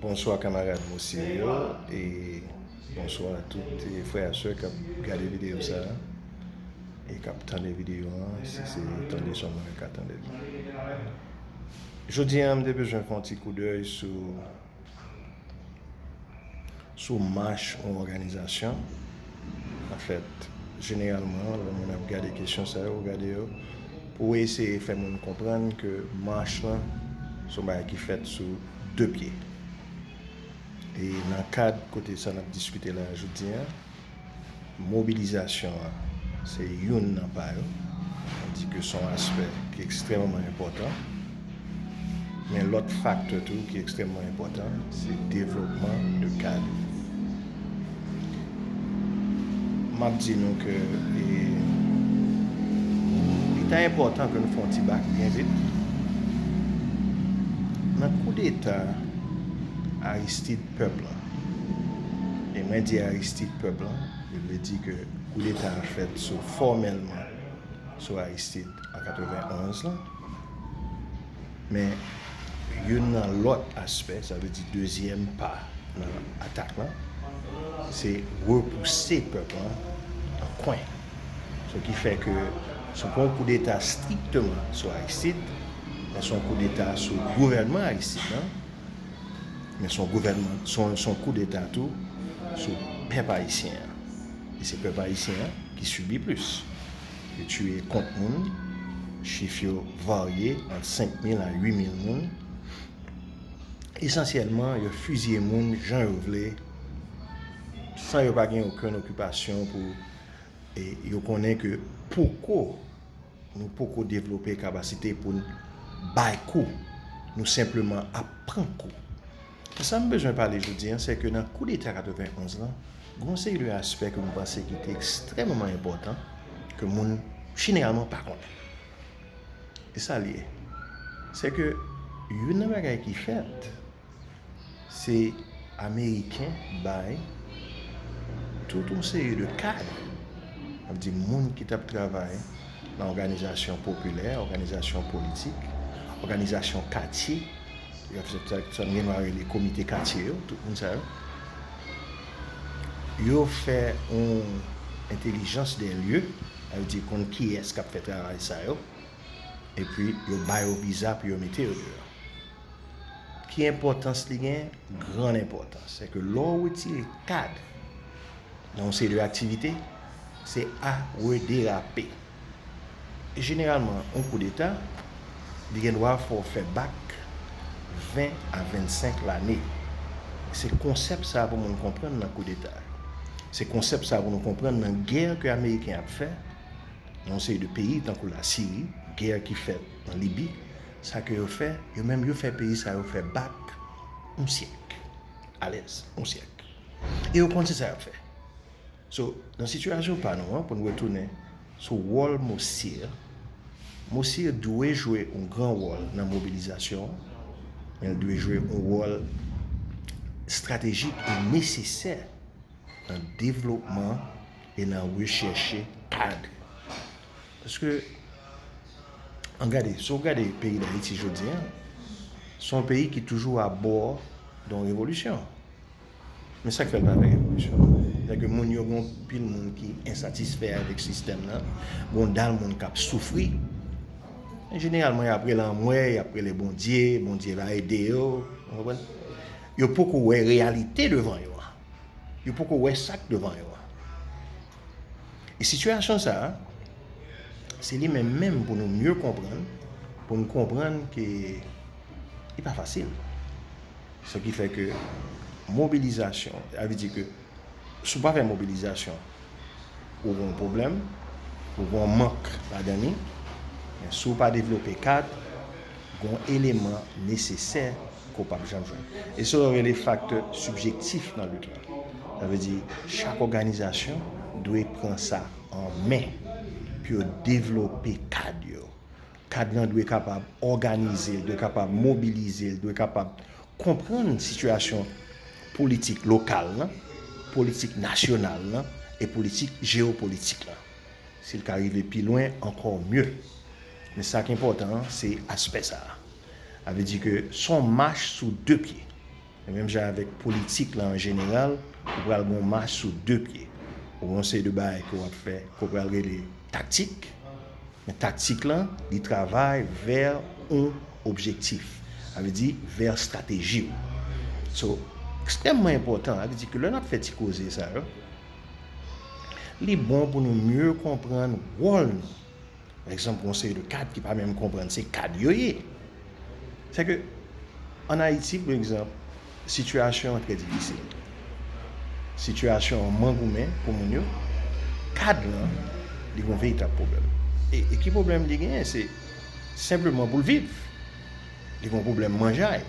Bonswa kamarad Mousie yo e bonswa tout frè a sè kap gade videyo sa e kap tande videyo an si se tande son mwen ka tande l. Jodi an m te bezwen fè yon ti koudèy sou Sou mach yon òganizasyon, anfèt, jeneralman, lè moun ap gade kesyon sa yo, gade yo, pou eseye fè moun konprann ke mach lan se yon bagay ki fèt sou de pye. E nan kad kote sa n ap diskite la jodi a, Mobilizasyon an se youn nan pa yo. Mwen di ke son aspè ki ekstrèmman enpòtan. Gen lòt faktè tou ki ekstrèmman enpòtan, se devlopman de kad. M ap di nou ke li ta enpòtan ke nou fè yon ti bak byen vit. Nan koudeta Aristide, pèp lan. E mwen di Aristide pèp lan, yo vle di ke koudeta a fèt sou fòmèlman sou Aristide an 91 lan. Men youn nan lòt aspè, sa vle di dezyèm pa nan atak lan, se repouse pèp lan nan kwen. Sa ki fè ke se pa yon koudeta strikteman sou Aristide, men se yon koudeta sou gouvènman Aristide lan, Men son gouvènman, son kou deta tou sou pèp ayisyen an. E se pèp ayisyen an ki sibi plis. Yo tiye kont moun, chif yo varye ant 5 mil a 8 mil moun. Esansyèlman, yo fiziye moun jan yo vle, san yo pa gen okenn okipasyon pou e yo konnen ke poko Nou poko devlope kabasite pou n bay kou, nou senpleman ap pran kou. E sa m bezwen pale jodi an, se ke nan koudeta 91 lan, gen yon seri de aspè ke m panse ki te ekstrèmeman enpòtan, ke moun jeneralman pa konnen. E sa l ye? Se ke youn nan bagay ki fèt, Se ameriken bay tout yon seri de kad, ap di moun ki tap travay nan òganizasyon popilè, òganizasyon politik, òganizasyon katye, sa n gen dwa rele komite katye yo, tout moun sa yo, yo fè yon entelijans dè lye, sa vle di konn kiyès kap fè travay sa yo, epi yo ba yo viza pou yo mete yo deyò. Ki enpòtans li gen? Gran enpòtans. Se ke lò ou retire kad nan yon seri de aktivite, se a rederape. E jeneralman, yon kou deta, li gen dwa fè w fè bak 20 a 25 lane. Se konsèp sa pou moun konprann nan kou deta. Se konsèp sa pou nou konprann nan gè ke Ameriken ap fè nan yon seri de peyi tankou la Siri, gè ki fèt nan Libi, Sa ke yo fè, yo menm yo fè peyi sa yo fè bak yon syèk. Alèz, yon syèk. E yo konn se sa y ap fè. So, nan sitiyasyon pa nou an, pou n retounen sou wòl Mosir, Mosir dwe jwe yon gran wòl nan mobilizasyon an, men l dwe jwe yon wòl estratejik e nesesè nan devlopman e nan rechèche kad. Paske, an gade, si w gade peyi Dayiti jodi an, se yon peyi ki toujou a bò don revolisyon. Men sa k fè l pa fè revolisyon? Sè ke moun yo gen yon pil moun ki ensatisfè avèk sistèm nan, gen yon dal moun k ap soufri. An jeneralman, y ap rele anmwe, y ap rele Bondye, Bondye va ede yo. Ou konprann? Yo poko wè reyalite devan yo an. Yo poko wè sa k devan yo an. E sitiyasyon sa a, se li menm menm pou nou mye konprann, pou nou konprann ke li pa fasil. Sa ki fè ke mobilizasyon, avè di ke sou pa fè mobilizasyon, ou gon pwoblèm, ou gon mank la dani, men sou pa devlope kad, gon eleman nesesè, ke w pap janm jwenn. E sa yo rele faktè sibjektif nan lit la. Sa vle di, chak òganizasyon dwe pran sa an men pou yo devlope kad yo. Kad lan dwe kapab òganize, li dwe kapab mobilize, li dwe kapab konprann sitiyasyon politik lokal lan, politik nasyonal lan e politik jeyopolitik lan. Si l ka rive pi lwen, ankò mye. Men sa ki enpòtan an, se aspè sa a. A vle di ke son mach sou 2 pye. Se menm jan avèk politik la an jeneral, ou pral gon mach sou 2 pye. Ou gon seri de bagay ke wap fè, ke w pral rele taktik. Men taktik la, li travay vè yon objektif. A vle di vè stateji w. So, ekstrèmman enpòtan. A vle di ke lè nap fè ti koze sa yo, li bon pou nou mye konprann wòl nou Pa egzanp, yon seri de kad ki pa menm konprann se kad yo ye. Se ke, an Ayiti, pou egzanp, sitiyasyon an trè difisil. Sitiyasyon an man goumen pou moun yo. Kad lan, li gon veritab pwoblèm. E ki pwoblèm li genyen? Se senpleman pou l viv. Li gon pwoblèm manjay.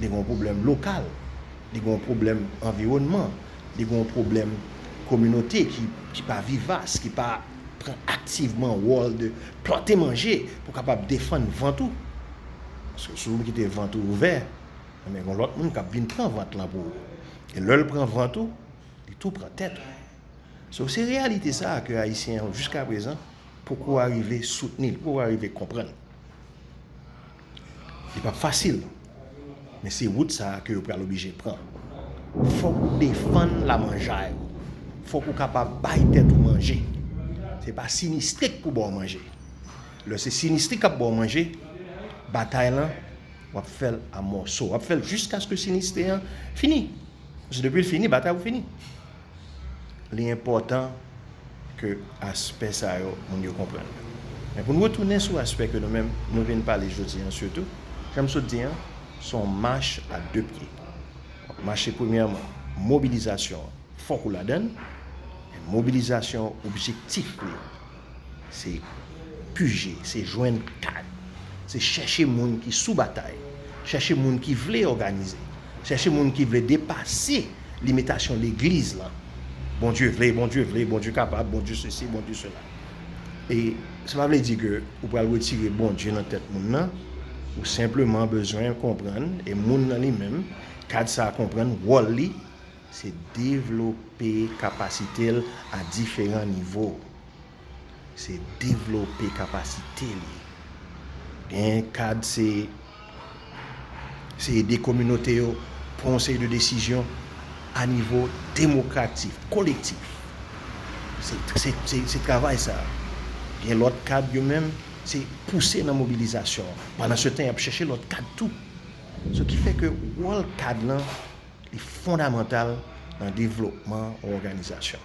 Li gon pwoblèm lokal. Li gon pwoblèm anviwònman. Li gon pwoblèm kominote ki pa vivas, ki pa... Pran aktivman wòl de plante manje pou kapab defann vant ou. Paske si ou kite vant ou ouvè, enben gon lòt moun k ap vin pran vant lan pou ou. E lè l pran vant ou, li tou pran tèt ou. So se reyalite sa a ke Ayisyen yo jiskaprezan poko arive soutni, poko arive konprann. Li pap fasil, men se wout sa a ke yo pral oblije pran. Fòk ou defann lamanjay ou. Fòk ou kapab bay tèt ou manje. Se pa sinistrik pou ba w manje. Lè se sinistrik k ap ba w manje, batay lan, w ap fè l a mòso. W ap fè l jiskaske sinistri an fini. Paske depi l fini, batay ou fini. Li enpòtan ke aspè sa yo moun yo konprann yo. Men pou n retounen sou aspè ke nou menm nou vin pale jodi an sitou, jan m sot di an, se yon mach a de pye. Wap mache premyèman, mobilizasyon an fòk ou ladan l, men mobilizasyon an objektif li, Se pije, se jwenn kad, se chèche moun ki sou batay, chèche moun ki vle òganize, chèche moun ki vle depase limitasyon legliz lan. Bondye vle, Bondye vle, Bondye kapab, Bondye sesi, Bondye sela. E sa pa vle di ke ou pral retire Bondye nan tèt moun nan, ou senpleman bezwen konprann, e moun nan li menm, kad sa a konprann wòl li, Se devlope kapasite l a diferan nivo. Se devlope kapasite li. Gen kad se se ede kominote yo pran yon seri de desizyon a nivo demokratik, kolektif. Se se se se travay sa. Gen lòt kad yo menm se pouse nan mobilizasyon. Pandansetan y ap chèche lòt kad tou. Sou ki fè ke wòl kad lan. Li fondamantal nan devlopman yon òganizasyon,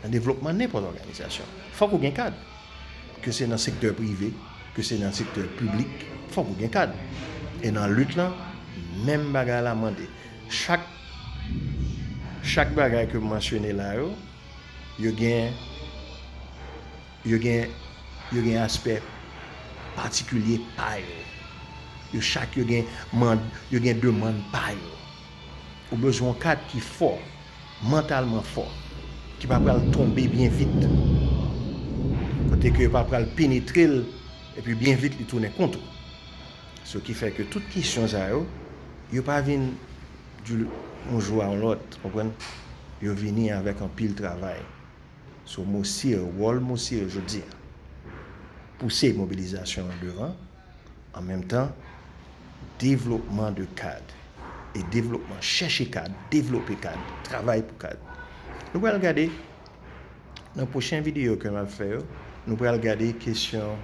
nan devlopman nenpòt òganizasyon. Fòk ou gen kad. Ke se nan sektè prive, ke se nan sektè piblik, fòk ou gen kad. E nan lit lan, menm bagay la mande. Chak chak bagay ke m mansyone la yo, yo gen. Yo gen yo gen aspè patikilye pa yo. Yo chak yo gen mand yo gen demann pa yo. Ou bezwen yon kad ki fò, mantalman fò, ki pa pral tonbe byen vit. Kote ke yo pa pral penetre l epi byen vit li tounen kont ou. Se ki fè ke tout kesyon sa yo, yo pa vin du yon jou a yon lòt, konprann? Yo vini avèk anpil travay. So mosye yo, wòl mosye yo jodi a, pouse mobilizasyon an devan, an menm tan devlopman de kad e devlopman chèche kad, devlope kad, travay pou kad. Nou pral gade nan pwochen videyo ke map fè yo, nou pral gade kesyon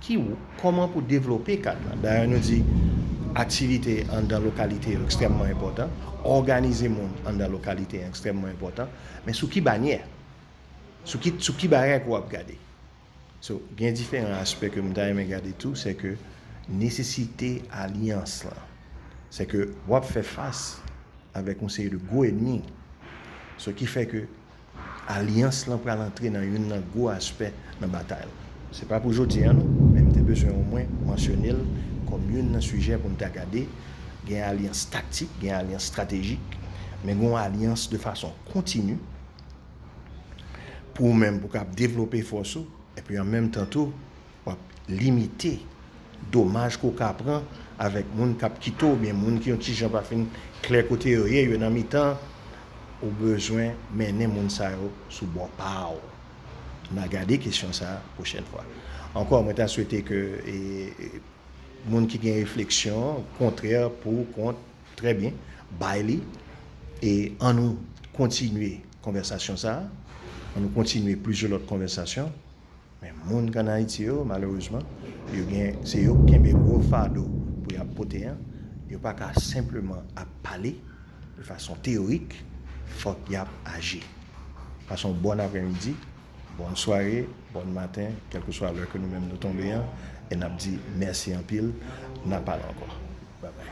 Ki w, kòman pou devlope kad lan. Dayè nou di aktivite anndan lokalite yo ekstrèmman enpòtan, òganize moun anndan lokalite an ekstrèmman enpòtan, men sou ki banyè, sou ki, sou ki bagay ke w ap gade. So, gen diferan aspè ke m ta renmen gade tou, se ke nesesite alyans lan. Se ke w ap fè fas avèk yon seri de gwo enmi. So, ki fè ke Alyans lan pral antre nan youn nan gwo aspè nan batay la. Se pa pou jodi an non, men m te bezwen omwen mansyone l kòm youn nan sijè pou n ta gade, gen alyans taktik, gen alyans stratejik, men gen yon alyans de fason kontini pou ou menm pou w kab devlope fòs ou epi an menm tan tou, W ap limite domaj ke w ka pran avèk moun k ap kite w oubyen moun ki yon ti jan pa fin klè kote yo ye, yo nan mitan. Ou bezwen mennen moun sa yo sou bò pa w. N a gade kesyon sa a pwochèn fwa. Ankò, mwen ta swete ke moun ki gen refleksyon kontrè, pou, kont, trè byen, bay li e an nou kontinye konvèsasyon sa a, an nou kontinye plizyè lòt konvèsasyon. Men moun k an Ayiti yo, malerezman, yo gen, se yo k kenbe gwo fado pou y ap pote an. Yo pa ka senpleman ap pale de fason teyorik, fòk y ap aji. Pase yon bòn aprèmidi, bòn sware, bòn maten, kèlkeswa lè ke nou menm nou tonbe an, e n ap di mèsi anpil, n a pale ankò. Babay.